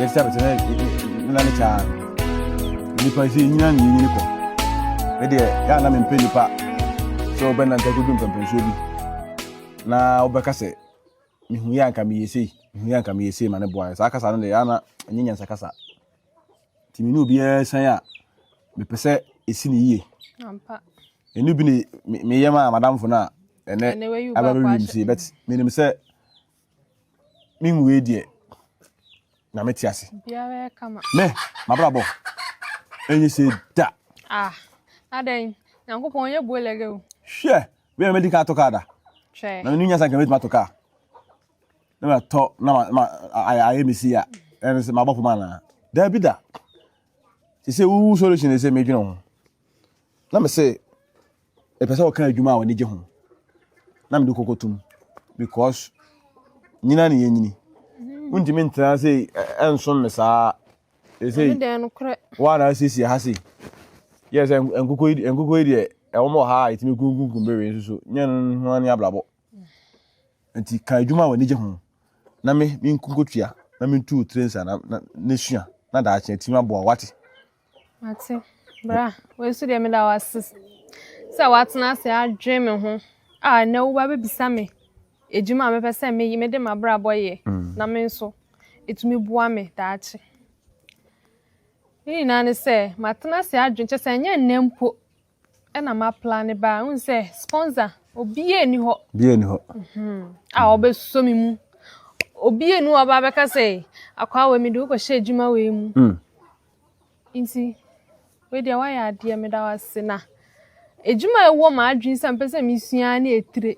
yɛsɛ sɛ na ne kyaa nnipa sɛ ɛnyina ne yɛnyini kɔ ɛdeɛ yɛ ana mempɛ nnipa sɛ wobɛnanta kodu mpɛmpɛnsoɔ bi na wobɛka sɛ mehu yɛ anka meyɛ sei mehu yɛ anka meyɛ sei ma ne boa saa kasa no deɛ ana ɛnyɛ nyansa kasa Nti me ne obiara san a, mepɛ sɛ ɛsi no yie. Ɛno bi ne meyɛ ma madamfo no a ɛnɛ abɛbɛwim sei but menim sɛ menwei deɛ na mete ase. Me, mabrabɔ, ɛnyɛ sei da. Ah, adɛn, nyankopɔn ɔnyɛ boelɛgɛ o. Hwɛ, wei a mɛdi kaa tɔ kaa da. Na menu nyasa nka mɛtumi atɔ kaa. na matɔ na ayɛ me si a ɛne sɛ mabɔ poma anaa daabi da te sɛ wowu solution ne sɛ medwene ho na me sɛ ɛpɛ sɛ wɔka adwuma a wɔne gye ho na mede kɔkɔtom because nyina ne yɛnyini wontumi ntena sɛ ɛnsom me saa ɛsɛ woana asiesie ha sei yɛ sɛ nkokɔ yi deɛ ɛwɔ mɔ ha a ɛtumi kunkunkum bereɛ nso so nyɛ no ho ne abrabɔ Enti ka adwuma a w'ani gye ho na me nkotua na mentu wo tire nsa na, na, na sua na daakye atumi aboa wate. Mate. Bra, wei nso deɛ meda wase sɛ watena ase adwene me ho a ɛnɛ woba bɛbisa me adwuma a mepɛ sɛ meyi mede m'abrabɔ yɛ mm. na me nso ɛtumi boa me daakye. Ne nyinaa ne sɛ matena ase adwene kyɛ sɛ ɛnyɛ nnɛ mpo Ɛna ma plan ne baa n sɛ sponsor obiaa nni hɔ obiaa nni hɔ a ɔbɛsɔ me mu obiaa nni hɔ ɔbaa bɛka sɛ akwaa wei mede wokɔhyɛ adwuma wei mu mm. nti wei deɛ woayɛ adeɛ meda wase na adwuma ɛwɔ ma adwene sɛ mpɛ sɛ mesua ne ɛtire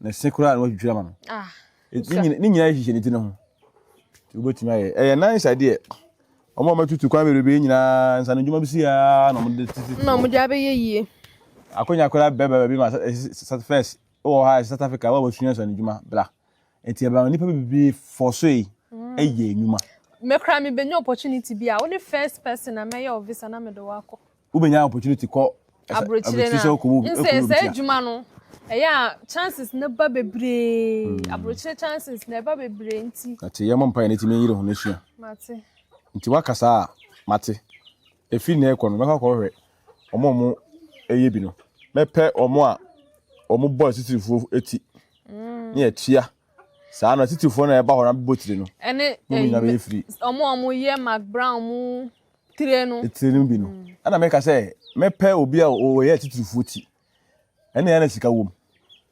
ne se koraa na watwitwiri ama no ah, ne nyinaa hyehyɛ ne ti no ho nti wobɛtumi ayɛ ɛyɛ nice adeɛ ɔma ɔmatutu kwan bebrebe nyinaa nsa no dwuma bi si aa na ɔmde tete na ɔmde abɛyɛ yie akonya koraa bɛba baabi ma sat first wɔ ha South Africa wɔ wɔsua nsa no dwuma bra nti ɛbɛma nnipa bebrebe fɔ so yi mm. ɛyɛ nnwuma mekora mebɛnya opportunity bi a wo ne first person na mɛyɛ ɔvisa na mede wakɔ wobɛnya opportunity kɔ aburokyire no a nsɛ sɛ adwuma no ɛyɛ a chances no ba bebree hmm. aburokyire chances na ɛba bebree nti ate yɛmmɔ mpaeɛ no tumi yere ho no sua mate nti woaka saa a mate ɛfiri na ɛkɔ no mɛkɔ akɔhwɛ ɔmo ɔmo ɛyɛ bi no mɛpɛ ɔmo a ɔmo bɔ asitirifoɔ ti hmm. ne yɛtua saa no asitirifoɔ no a ɛba hɔ no abɛbɔ tiri no ɛne ɔmo ɔmo yɛ mac brown mu tire no tire no bi no mm. ɛna meka sɛ mɛpɛ obi a ɔyɛ atitirifoɔ ti ɛne ɛna sika wom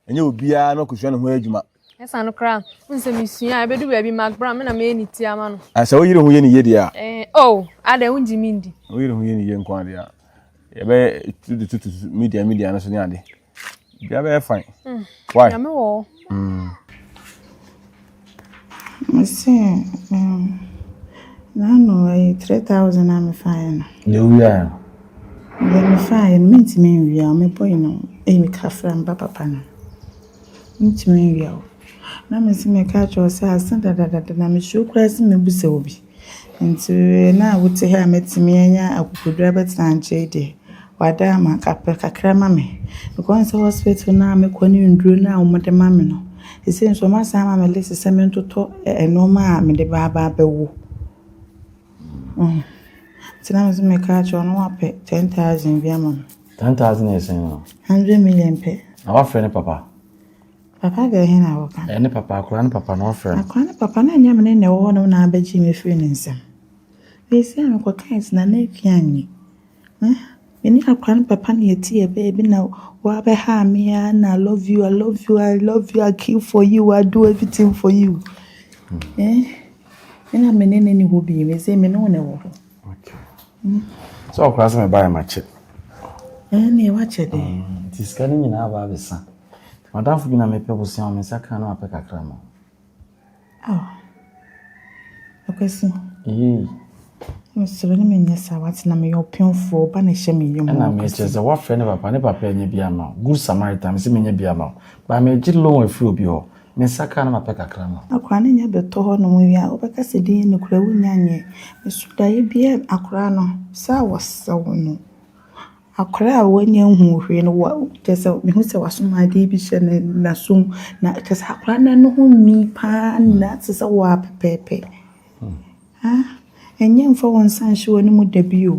ɛnyɛ obiara na ɔkɔsua ne ho adwuma ɛsa no koraa n sɛ mesua a ɛbɛdu baabi magbra me na mɛyɛ ne ti ama no sɛ woyere ho yɛ ne yie deɛ a eh, o oh, adɛ wogye me ndi woyere ho yɛ ne yie nko adeɛ a yɛbɛtututu media media no so ne ade Bia bɛyɛ fine. Mm. Why? Nyame wɔ hɔ. Mm. Mese um, nano ɛyɛ three thousand a mefaeɛ no. Na ewia yɛ. Deɛ mefaeɛ no mentumi nwia o mebɔ yi no ɛyɛ me kafra mba papa no mentumi nwia o. Na mese meka kyerɛ wo sɛ ase dadadada na mesuro koraa sɛ mɛbu sɛ obi. Ntsi nna a wotse ha a metsena yi nye akokodur abɛtsena nkyɛ yi de, wɔada ama kakraka kakra ama me. Because sɛ hospital no a mokɔ no nndur no a wɔde ma me no, sesei so wɔasan ama me list sɛ mentotɔ nnoɔma a mede ba aba abɛwo. Ntsi na mese meka akyerɛ wo na wɔapɛ ten thousand bi ama me. Ten thousand yɛ sɛn o? Hundred million pɛ. Na wɔafrɛ ne papa? Papa deɛ he na woka. Ɛne papa, akora ne papa na ɔfrɛ no. Akora ne papa na ɛnyɛ mene na ɛwɔ hɔ nom na abɛgye me firi ne nsam. Ɛsi a mekɔ kae si na na ɛfi anyi. Mene akora ne papa na ɛti yɛ bɛɛ bi na wabɛ ha me a na I love you, I love you, I love you, I kill for you, I do everything for you. Eh, ɛna mene ne ne hɔ bi, me se mene wo na ɛwɔ hɔ. Sɛ ɔkora sɛ mɛba yɛ makyɛ. Ɛnneɛ wakyɛ dɛ. Mm, nti sika no nyinaa aba abɛsa. Madamfo bi na mepɛ bosea me nsa ka no apɛ kakra ma. Akwasi. Yei. Mesrɛ ne menyɛ saa watena meyɛ ɔpemfoɔ ba na ɛhyɛ me yam. Ɛna mekyerɛ sɛ woafrɛ ne papa ne papa ɛnyɛ bi ama good samaritan me sɛ menyɛ bi ama wo. Ba megye loan afiri obi hɔ. Me nsa kaa na mapɛ kakra ma wo. Akora no nya bɛtɔ hɔ nom wie a wobɛka sɛ din no kora wo nya nyɛ me so da ebia akora no sɛ a wɔsew no akora a wanya nhuu hwee no wa kyɛ sɛ mehu sɛ wasom adeɛ bi hyɛ ne naso mu na kyɛ sɛ akora no no ho nwi paa na te sɛ wɔ a pɛpɛɛpɛ ha ɛnyɛ mfa wɔn nsa nhyɛ wɔn mu da bi o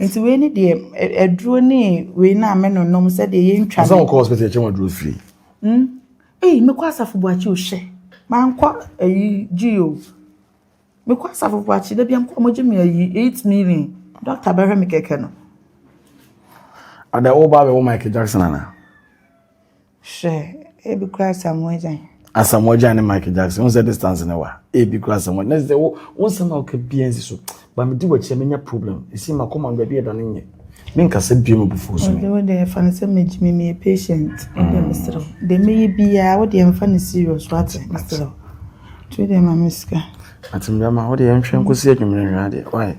Nti wei ne deɛ aduro ne wei no a menonom sɛdeɛ yɛntwa ne. Sɛ wokɔ hospital kyɛ waduro firi. Mm. Ei, mekɔ asafo buakye o hyɛ. Mankɔ ayi gyi o. Mekɔ asafo buakye da bia mekɔ mogye me ayi 8 million. Dɔkta bɛhwɛ me kɛkɛ no. Ada wo ba bɛwɔ Michael Jackson ana? Hwɛ, ebi kura Asamoah Gyan. Asamoah Gyan ne Michael Jackson, wọn sɛ distance ne wa. Ebi kura Asamoah Gyan. Sɛ wo wo nsɛm na ɔka bia nsi so, ba mi di w'akyi a menya problem. Esi ma kɔma baabi ɛda ne nyɛ. Me nkasa bia mu bufuo so mi. Wo deɛ fa no sɛ me gyimi mi yɛ patient. Wo deɛ me srɛ. Deɛ me yɛ biara wo deɛ mfa no serious wate me srɛ. Tu deɛ ma me sika. Atim deɛ ma wo deɛ nhwɛ nkosi adwumire nhwɛ adeɛ. Why?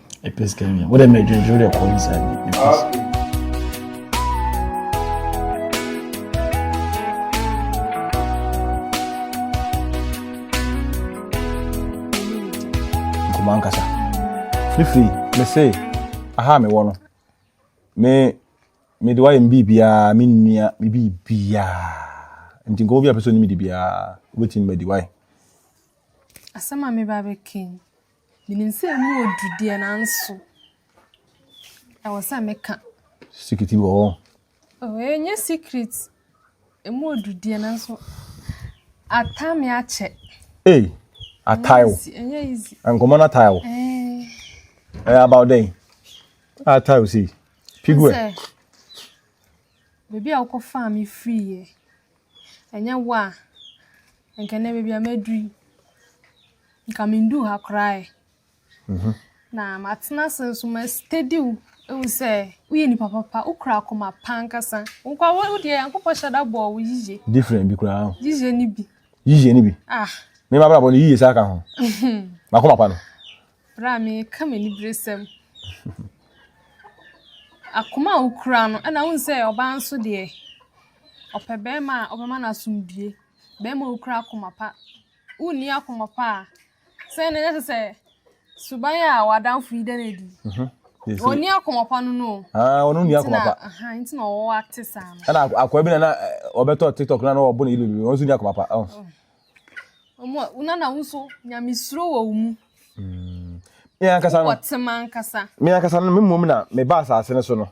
ɛpɛ sika nya wode ma adwendwere de ɛkɔ inside me nkɔmɔ ankasa fifi mese aha mewɔ no me mede wayɛ me biribiaa me nnua me biribiaa nti nkɔmɔ bi a pɛ sɛ ɔnim de biaa wobɛtumi madi wae asɛm a meba bɛka yi Menim sɛ ɛmu wɔ duru deɛ nanso ɛwɔ sɛ meka. Sikiti wɔ hɔ. Ɛnyɛ secret. Ɛmu wɔ duru deɛ nanso ata me akyɛ. Ee, atae wo. Ɛnyɛ easy. Nkɔmɔ no atae wo. Ɛyɛ about dɛn? Atae wo sei. Pigu ɛ. Baabi a wokɔfaa me firi yɛ. Annyɛ wo a nka ndɛ beebi a medur yi nka menndur ha koraa ɛ. Na matsena ase so mestadiw ehu sɛ woyɛ nyimpa papa, wo kura akoma pa ankasa. Nka wo wo deɛ Nyankopɔn hyɛ da bɔɔ wo yiye. Different bi koraa. Yiye ni bi. Yiye ni bi. Ah. Me ma bra bɔ no yiye saa ka ho. Makoma pa no. Bere a mereka m'aniberesɛm. Akoma a wukura no, ɛna wohu sɛ ɔbaa nso deɛ, ɔpɛ barima a ɔbɛma no asomdwie. Barima a okura akoma pa. Wonni akoma pa a, sɛn na ɛsɛ sɛ suban a w'adamfo yi da no adi. Mhm. Wɔnni akoma pa no no. Ah, wɔn nni akoma pa. Nti na wɔwɔ ate saa no. Ɛna akwa bi na na eh, ɔbɛtɔ TikTok na na ɔbɔ ne yiri wɔn nso nni akoma pa. Oh. Mhm. Ɔmo a na wo nso nyamesuro wɔ wo mu. Mm. Me ankasa no. Wɔtem ankasa. Me ankasa no me mmom na me ba asase no so no.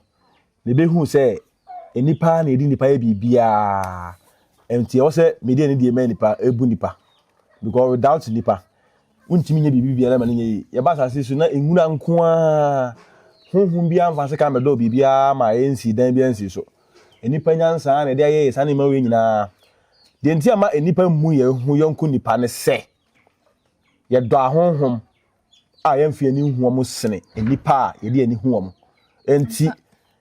Me behu sɛ nipa na edi nipa yɛ biribiara. Nti ɛwɔ sɛ me deɛ ne deɛ mɛ nipa ebu nipa. Because without nipa wontumi nyɛ biribi biara ma ne nyɛ yi. Yɛba asase so na nwura nko ara. Honhom biara mfa se kan bɛdɔɔ biribiara ma ɛnsi dan biara nsi so. Nipa nyansa na ɛde ayɛ yɛ saa nneɛma wei nyinaa. Deɛ enti a ma nnipa mmu yɛn ho yɔnko nnipa ne sɛ, yɛdɔ ahonhom a yɛmfi ani nhu wɔn sene nnipa a yɛde ani hu wɔn. Enti,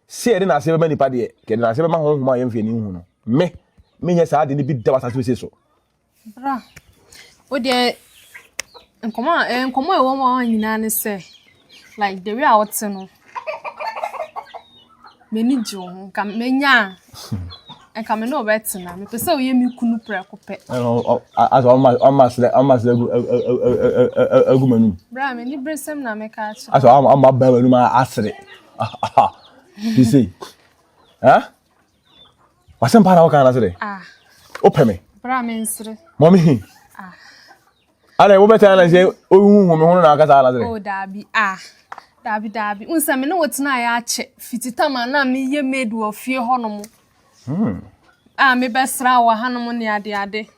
sɛ yɛde n'ase bɛma nnipa deɛ, yɛde n'ase bɛma honhom a yɛmfi ani nhu no. Me, menyɛ saa ade no bi da wɔ asase wesee so. Bra, wo deɛ nkɔmmɔ a, eh, nkɔmmɔ a ɛwɔ hɔ nyinaa ne sɛ, like the way a ɔte no m'ani gye wo ho nka menya a nka me ne ɔbɛtena mepɛ sɛ woyɛ me kunu prɛko pɛ asɛ ɔma serɛ ɔma serɛ agu m'anim berɛ a m'ani bere sɛm na meka akyerɛ asɛ ɔma baa m'anim asere te sei eh? Wasɛm paa na woka anase dɛ. Ah. Wopɛ me. Bra me nsere. Mɔ me hi. Ah. Ana wobɛtena ana sɛ wohuhu me ho no na akasa anase dɛ. Oh daabi ah. Daabi daabi. Wo nsɛ me ne wo tena yɛ akyɛ. Fiti tam a na meyɛ maid wɔ fie hɔ no mo. Hmm. Ah mebɛsra wɔ ha no mo ne ade ade.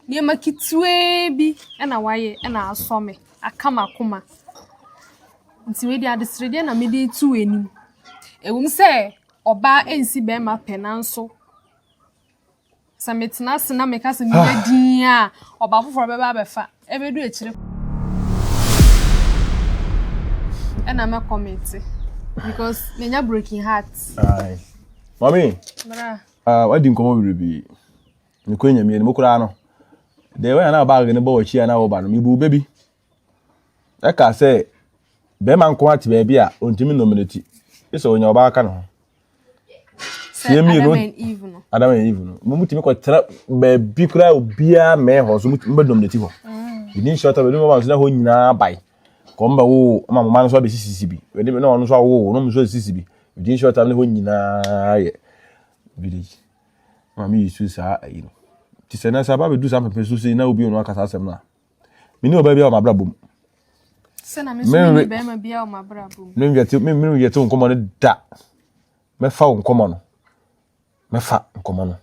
Nneɛma ketewaa bi na wayɛ na asɔ me, aka m'akoma. Nti wei deɛ adesredeɛ na mede reto w'anim. Ɛwom sɛ ɔbaa nsi barima pɛ nanso sɛ metena ase na meka sɛ meyɛ ah. din a ɔbaa foforɔ bɛba abɛfa ɛbɛdu akyire ɛna mɛkɔ mete because menya broken heart. Mami, uh, ah, wadi nkɔmɔ biribi. mekɔ enyamie no mu koraa no deɛ wɔn a na baage no bɔ wɔn akyi a na wɔba no mebu bɛ bi ɛka sɛ bɛrima nko ate baabi a ɔntumi nnome no ti sɛ ɔnya ɔbaa ka ne ho sie mmienu adam and eve no mo mutumi kɔtena baabi koraa obiara mmɛn hɔ so mbɛdom ne ti hɔ ɛdi nhyɛ ɔtɔ bɛdom ɔba nso na hɔ nyinaa bae kɔm bɛ wo ɔma moma no nso abɛsisisi bi ɛdi na ɔno nso awo ɔno nso asisi bi ɛdi nhyɛ ɔtɔ ne hɔ nyinaa yɛ village Maame yi su saa ayi no. Nti sɛ na sɛ aba bɛdu saa mpɛmpɛ so sei na obi ɔno aka saa asɛm no a, mene ɔbaa bi a ɔmabrabɔ bom. Sɛna me nso mene bɛrima bi a ɔmabrabɔ bom. Menwɛte wo nkɔmmɔ no da. Mɛfa wo nkɔmmɔ no. Mɛfa nkɔmmɔ no.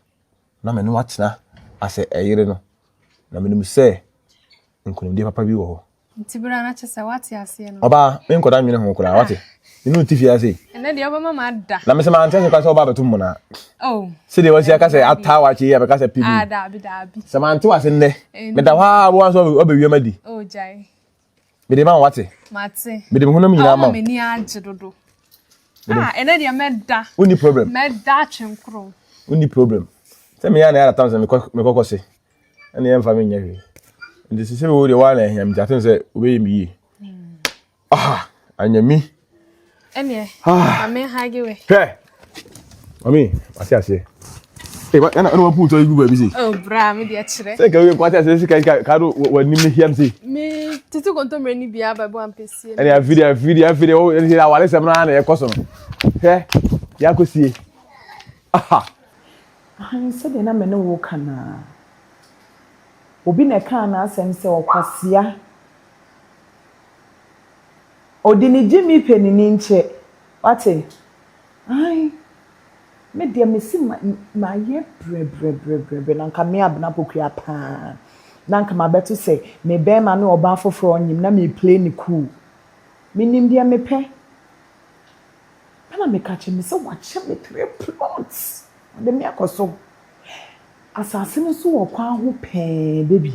Na mene watena asɛ ɛyere no. Na menim sɛ nkonimdie papa bi wɔ hɔ. Nti bere a na kyɛ sɛ wate aseɛ no. Ɔbaa, me nkɔda nwene ho koraa, wate? Me ne ɔte fie ha sei. Ɛnɛ deɛ wobɛma ma ada. Na me sɛ mante ase koraa sɛ wobaa bɛto mmona. Oh. Sɛdeɛ wasi aka sɛ ataa wakye yi a bɛka sɛ pibi. Ah, daabi, daabi. Sɛ mante wase nnɛ, meda hɔ ara woa nso wabɛwiam adi. Oh, gyae. Mede ma wo wate. Mate. Mede me honam nyinaa ma wo. Awo m'ani agye dodo. Ah, ɛnɛ deɛ mɛda. Wonni problem. Mɛda atwenkoro. Wonni problem. Sɛ meyɛ a na yɛada tam sɛ mekɔkɔ se. ɛne yɛmfa me nyɛ hwee nti sɛ sɛ mewɔ deɛ woa na ahia me nti atem sɛ wobɛyɛ me yie aha anyɛ mi ɛneɛ ah. ame hage we hwɛ mami wate aseɛ ɛna ɛna wɔn puntɔ egu baabi se. o oh, bra mi deɛ kyerɛ. sɛ nkawe nkwate ase sika sika kaa do wɔn anim ne hiam se. mi titi kontomire ni bia baabi wa mpɛsie. ɛna afiri afiri afiri o ɛna awale sɛm naa na ɛkɔ so no hɛ yakɔ sie aha. Ahan, sɛdeɛ na me ne wo reka no ara. Obi na ɛkaa n'asɛm sɛ ɔkwasea. Ɔde ne gyimi pɛ ne ninkyɛ. Woate? Ahan, me deɛ mese ma, mayɛ brɛbrɛbrɛbrɛbrɛ na anka me Abena Pokuaa pa ara. Na anka mabɛto sɛ me barima ne ɔbaa foforɔ nyem na mereplay no cool. Menim deɛ mepɛ. Ɛna me ka kyerɛ me sɛ wakyɛ me three plots ɔde me akɔ so asase no so wɔ kwan ho pɛɛ bɛ bi.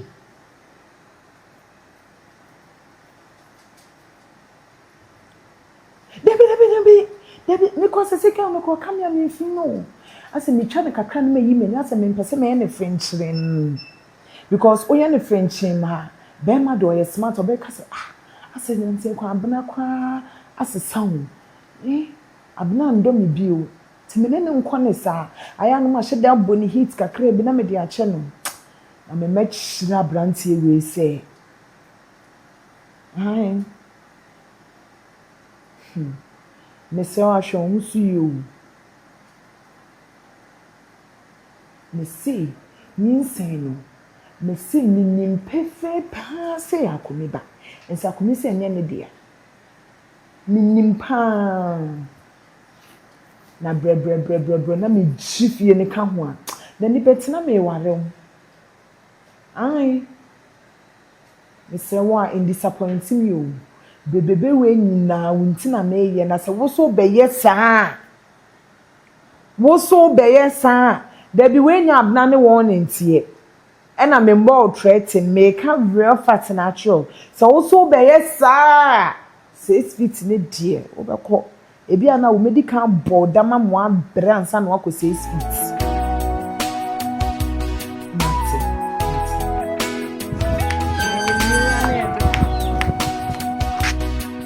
Dabi dabi dabi dabi me kɔ sese kɛ me kɔ ka me a me fii no asɛ me twa no kakra na me yi m'ani asɛ me mpɛ sɛ me yɛ no frenkyeren. Because woyɛ no frenkyeem a, barima deɛ ɔyɛ smart, ɔbɛka sɛ, ah, asɛ nanteɛ kwan Abena koraa asesa o, eh, Abena ndɔ me bio, nti me ne no nkɔ ne saa. Ayɛ a na mahyɛ da abɔ no heat kakraa bi na mede akyɛ no. Na me mɛkyerɛ aberanteɛ wei sɛ, aane, hmm, mesrɛ wo ahwɛ wo ho so yie o. Mese, Nyinsɛn no, mese minim pefee paa sɛ ɛyɛ Akoni ba. Mese Akoni sɛ ɛnyɛ ne dea. Minim paa. Na brɛbrɛbrɛbrɛbrɛ na megye fie no ka ho a, n'ani bɛte na meware wo. Aane. Mesrɛ wo a, ndisapɔinte me o. Brebrebɛ wei nyinaa wo nti na meyɛ na sɛ wo nso wobɛyɛ saa a, Wo so bɛyɛ saa a. Dabi w'anya abena ne wɔn ne nteɛ ɛna me mbɔ wo trɛten meka real fact na akyerɛ wo sɛ wo so bɛyɛ saa a six feet ne deɛ wo bɛkɔ ebi a na wo mɛdi kan abɔ wo dam ama wabrɛ ansa na wakɔ six feet.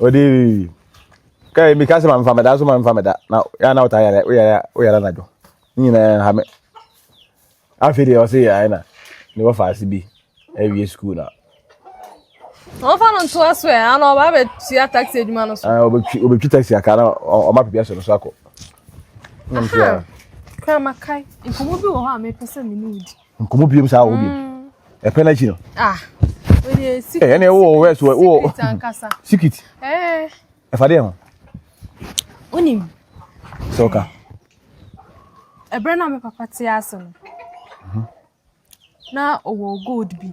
ɔde kai mi kasi ma nfa meda so ma nfa meda na ya na ɔta yɛrɛ oyɛrɛ oyɛrɛ na dwo ne nyinaa ha me afei deɛ ɔse yɛ ayɛ na ne wɔfa ase bi awie sukuu na ɔmfa no ntoa so ɛ ana ɔba bɛtua taxi adwuma no so ɔbɛtwi taxi aka na ɔma pɛbi asɔ no so akɔ kramakae nkɔmmɔ bi wɔ hɔ a mepɛ sɛ mene wodi nkɔmɔ biom saa wɔ biom ɛpɛ n'akyi no ɛne ɛwɔ wɔ wɛs wɔ wɔ sikit ɛfa deɛ ho wonim sɛ ɔka ɛberɛ na me papa te ase no na ɔwɔ gold bi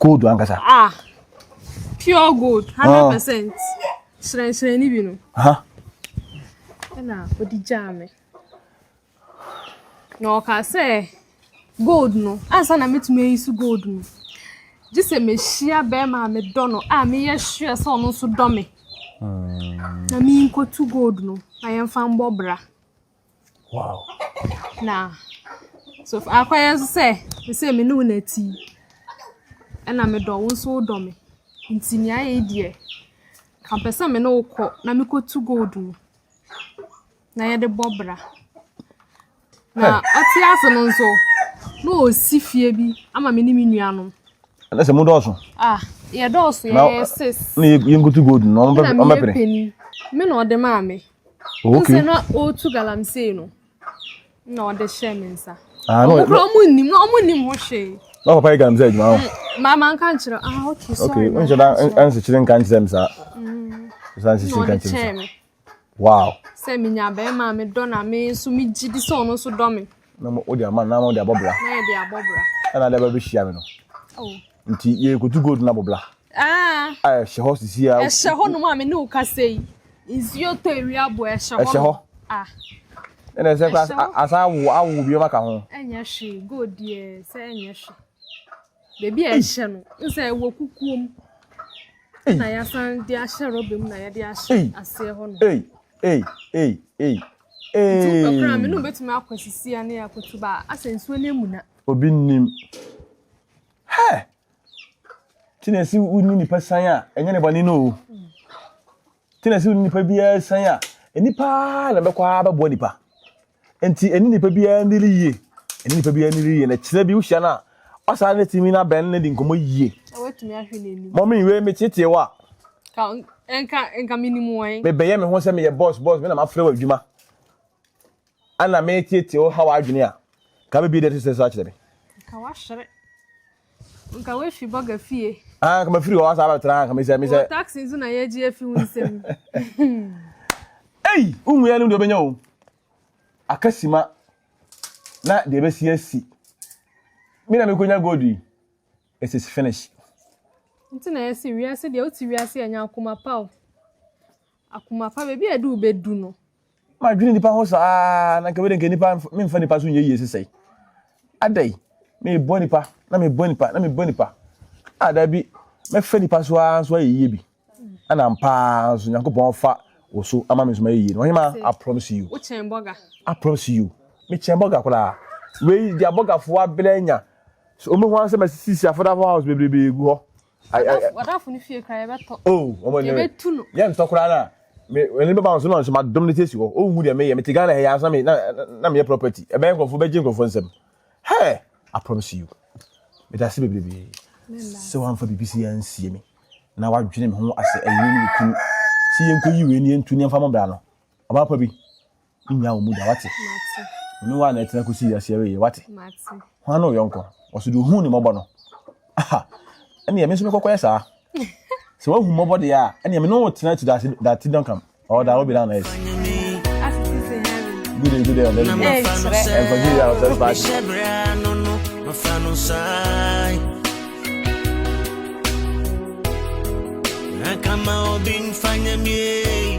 gold ankasa. ah pure gold hundred ah. percent hyerɛnhyerɛn ni bi no. ɛna odi gyaa mi na ɔka sɛ gold no ansa na metumi ayi so gold no gye sɛ mehyia bɛrima a medɔ no a meyɛ sure sɛ ɔno nso dɔ me hmm. na menkɔtu gold no na yɛmfa mbɔ bra Wow. Na so akɔyɛ nso sɛ sɛ me ne wo na ti ɛna medɔ wo nso wodɔ me nti nea ayɛ deɛ kampɛ sɛ me ne wo kɔ na mekɔtu gold mu na yɛde bɔ bra na ɔte ase no nso na ɔsi fie bi ama me ne me nuanom ɛnɛ sɛ modɔɔso ah yɛdɔɔso yɛyɛ sis na yɛnkotu gold no ɔmɛpene me na ɔde maa me Oh, okay. Sɛ na ɔretu galamsey no na ɔde hyɛ me nsa. Ah, no, ɔmo kura ɔmo nnim na ɔmo nnim ho hwee. Na papa yɛ galamsey adwuma ho. Mm, maa maa nka nkyerɛ ah okay sorry. Okay, n nhyɛ da nsekyere nka nkyerɛ mi saa. Mm. Nsa nsekyere nka nkyerɛ mi saa. Wow. Sɛ mi nya bɛrima mi dɔ na mi nso mi gyi di sɛ ɔno nso dɔ mi. na wode ama na wode abɔ bra ɛna de bɛbɛhyia me no oh. nti yɛkɔtu gold no abɔ bra ah. ɛhyɛ hɔ sisi a ɛhyɛ hɔ nom a me ne wo kasa yi nsuo tɔ ɛwi abɔ ɛhyɛ hɔ ɛhyɛ hɔ ah. ɛna ɛsɛ kora asan awo awo biom aka ho ɛnyɛ hwee gold deɛ sɛ ɛnyɛ hwee Baabi a yɛhyɛ no nsa ɛwɔ kukuom na yɛasan de ahyɛ rɔba mu na yɛde ahyɛ aseɛ hɔ no. Ei ei ei ei ei. Nti wopɛ koraa me ne wobɛtumi akɔ asisia ne akoto ba asɛ nsuo no amuna. Obi nnim. Hɛ! Tinasi wonni nipa san a ɛnyɛ ne bɔne no o. Tinasi wonni nipa biara san a nipa na bɛkɔ ara bɛboa nipa. Enti ɛne nipa biara nnidi yie. Ɛne nipa biara nnidi yie. Na kyerɛ bi wohyia no a, wasan ne tumi no abɛn ne de nkɔmmɔ yie. Na watumi ahwɛ n'anim. Mɔmi wei metetee wo a. Ka nka nka menim wɔn. Mebɛyɛ me ho sɛ meyɛ bɔs bɔs me na mafrɛ wo adwuma. Ana metetee wo ha w'adwene a. Ka bɛbie deɛ ɛte sɛ so akyerɛ me. Nka wahyere. Nka woafi bɔga fie. Ah, nka mafiri hɔ asa abɛtra nka mesɛ mesɛ. Wɔ taxi nso na yɛgye afi wo nsam. Ei, wonwu yɛ no deɛ ɔbɛnya o. Aka sima na deɛ ɛbɛsi asi. Me na mekɔnya gold yi. It is finish. Nti na yɛsi wiase deɛ wote wiase ɛnyɛ akoma pa o. Akoma pa baabi a ɛde wobɛdu no. Madwene nnipa ho saa na nka wei de nka nnipa memfa nnipa so nyɛ yie sesɛe. Adɛn? Mebɔ nnipa na mebɔ nnipa na mebɔ nnipa. A daabi mɛfa nnipa so ara nso ayɛ yie bi. Ɛna ampa ara nso Nyankopɔn afa wo so ama me nso mayɛ yie. Ɔhema, I promise you. Wokyɛn bɔga. I promise you. Mekyɛn bɔga koraa. Wei deɛ abɔgafoɔ abelɛ anya. So wɔn ho ara sɛ masisi afɔdafo house bebrebe gu hɔ. ɔdafo no fie kora yɛbɛtɔ yɛbɛtu no yɛntɔ koraa no a ɛne bɛba nso na nso madom no sɛsi hɔ ɔnhu deɛ meyɛ mete ghana hɛyɛ asena na meyɛ property ɛbɛyɛ nkurɔfoɔ bɛgye nkurɔfoɔ nsɛm hɛ I promise you meda ase bebrebe sɛ woamfa biribi sɛ yɛansie me na wadwene me ho asɛ ɛyere ne mekunu sɛ yɛnkɔyi wei ne yɛntu ne ɛmfa mɔbra no ɔbaapa bi nnya wɔn mu da wate ɔne wɔn a na ɛtena kɔsi wiase awieɛ wate hwan ne ɔyɔnkɔ ɔso deɛ ɔhu ne mmɔbɔ no aha ɛneɛ me nso mekɔkɔyɛ saa sɛ woahu mmɔbɔ deɛ a ɛneɛ me ne wo tena to that ti dɔnkam ɔwɔ da wobɛda na ɛsi good day good day on every day and for you your first batch Come on, been finding me.